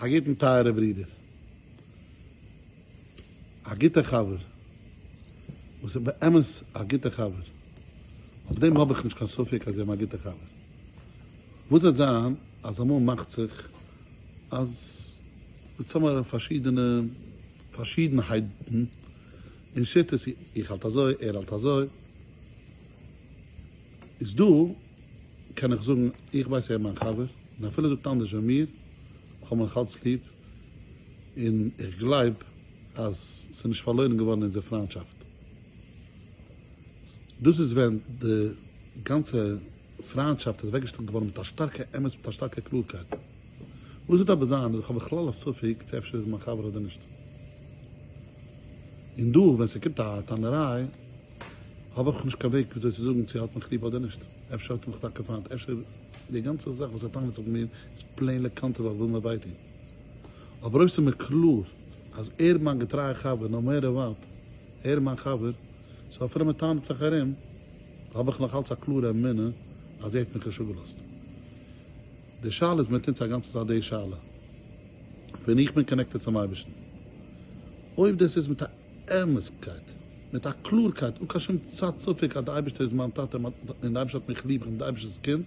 א גוטן טייערע ברודער, א גוטע חבר, וואס איז באמת א גוטע חבר, אויף דעם האב איך נישט קיין ספק אז זיי האבן א גוטע חבר, וואס וועט זיין אז אמאל מאכט זיך אז מיר צאמהאלען פארשידענע פארשידענהייטן אין שיטות, איך האלט אזוי, ער האלט אזוי. איז דא קען איך זאגן איך ווייס ער איז מיין חבר און אפילו ער זאגט אנדערש ווי מיר איך האב אים נאך אלץ ליב און איך גלייב אז ס'איז נישט פארלוירן געווארן אונזער פריינטשאפט דאס איז ווען די גאנצע פריינטשאפט איז אוועקגעשטעלט געווארן מיט א שטארקע אמת מיט א שטארקע קלארקייט וואס וועט אבער זיין אז איך האב בכלל א ספק צו אפשר איז ער מיין חבר אדער נישט און דא ווען ס'קומט א טענה'ריי האב איך נישט קיין וועג וויאזוי צו זאגן צו ער האט מיך ליב אדער נישט, אפשר האט ער מיך טאקע פיינט, אפשר די גאנצע זאך וואס ער טענה'ט זיך מיר איז פלעין לקנטר ווייל איך וויל מיר וויי טון, אבער אויב ס'איז מיר קלאר אז ער איז מיין געטרייע חבר נאו מעטער וואט, ער איז מיין חבר, סאו אפילו מען טענה'ט זיך ארום, האב איך נאך אלץ א קלארע אמונה אז ער האט מיך נישט אפגעלאזט. די שאלה איז מיט אונז א גאנצע צייט די שאלה ווען איך בין קאנעקטעד צום אייבערשטן, אויב דאס איז מיט א. ערנסטקייט, מיט א קלארקייט, אן קיין שום צד ספק אז די אייבערשטער איז מיין טאטע און די אייבערשטער האט מיך ליב, איך בין די אייבערשטער'ס קינד,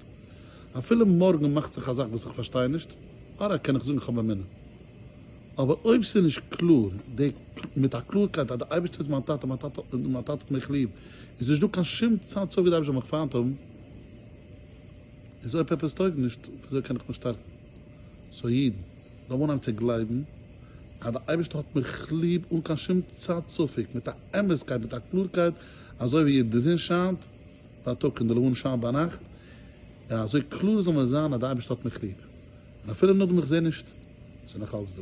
אפילו מארגן מאכט זיך א זאך וואס איך פארשטיי נישט, אודאי קען איך זאגן איך האב אמונה. אבער אויב ס'איז נישט קלאר, די מיט א קלארקייט אז די אייבערשטער איז מיין טאטע און מיין טאטע און מיין טאטע האט מיך ליב, איז נישטא קיין שום צד ספק די אייבערשטער זאל מיך פיינט האבן, איז אויב עפעס טויג נישט, וויאזוי קען איך מיך שטארקן? סאו אידן. זיי וואונטשן צו גלייבן אז דער אייבערשטער האט מיך ליב אן קיין שום צד ספק, מיט א אמת'קייט, מיט א קלארקייט, אזוי ווי די זון שיינט בייטאג און די לבנה שיינט ביינאכט, און אזוי קלאר זאל מיר זיין אז דער אייבערשטער האט מיך ליב, און אפילו נאכדעם איך זע נישט, איז ער נאך אלץ דא.